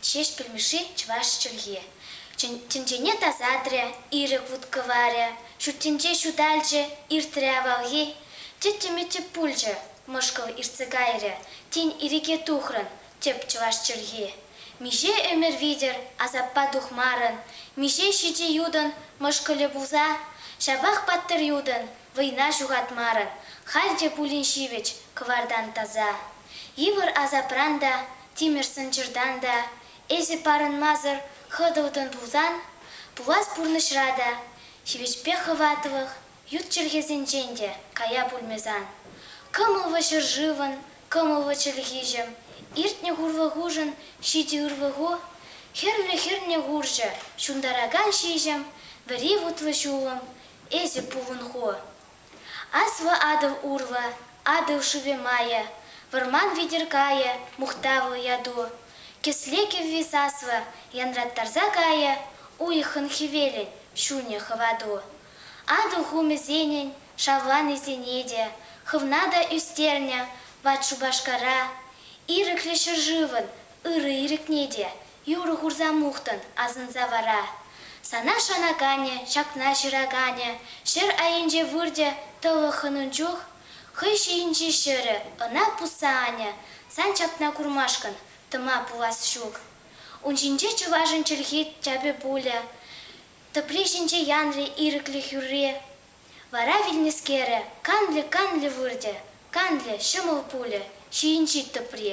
Ҫеҫпӗл Мишши чӑваш чӗлхи. Тӗнчене тасатрӗ, ирӗк вут-кӑварӗ, ҫуртӗнче ҫуталчӗ, иртрӗ авалхи. Тӗттӗм-тӗп пулчӗ, мӑшкӑл иртсе кайрӗ, тин ирӗке тухрӑн, Тӗп чӑваш чӗлхи. Миҫе ӗмӗр витӗр асаппа тухмарӑн, миҫе ҫичӗ ютӑн мӑшкӑлӗ пулса? Ҫапах паттӑр ютӑн вӑйна ҫухатмарӑн, халь те пулин ҫивӗч кӑвартан таса. Йывӑр асапран та, тимӗр сӑнчӑртан та эсӗ парӑнмасӑр хӑтӑлтӑн пулсан, пулас пурнӑҫра та ҫивӗчпе хӑватлӑх Ют чӗлхесенчен те кая пулмӗ сан. Кӑмӑллӑ ҫӗршывӑн кӑмӑллӑ чӗлхиҫӗм, иртнӗ хурлӑхушӑн ҫити ырлӑху, хӗрлӗ хӗрнӗ хурҫӑ ҫунтаракан ҫиҫӗм, вӗри вутлӑ ҫулӑм, эсӗ пулӑн ху. Аслӑ Атӑл урлӑ, Атӑл шывӗ майӗ, вӑрман витӗр кайӗ мухтавлӑ яту, кӗсле кӗвви саслӑ янраттарса кайӗ уйӑхӑн хӗвелӗн ҫунӗ хӑвату. Атӑл хумӗсенӗн шавланисене те хӑвна та ӳстернӗ ват Шупашкара. Ирӗклӗ ҫӗршывӑн ырӑ ирӗкне те юрӑ хурса мухтӑн асӑнса вара. Сана шанаканӗ, ҫакна ҫыраканӗ ҫӗр айӗнче выртӗ тӑлӑххӑн ун чух. Хӑй ҫийӗнчи ҫӗрӗ ӑна пусса анӗ. Сан ҫакна курмашкӑн тӑма пулас ҫук. Ун ҫинче чӑвашӑн чӗлхи тяпӗ пулӗ. Тӑпри ҫинче янрӗ ирӗклӗх юрри. Вара вилнӗскерӗ канлӗ-канлӗ выртӗ, канлӗ ҫӑмӑл пулӗ ҫийӗнчи тӑпри.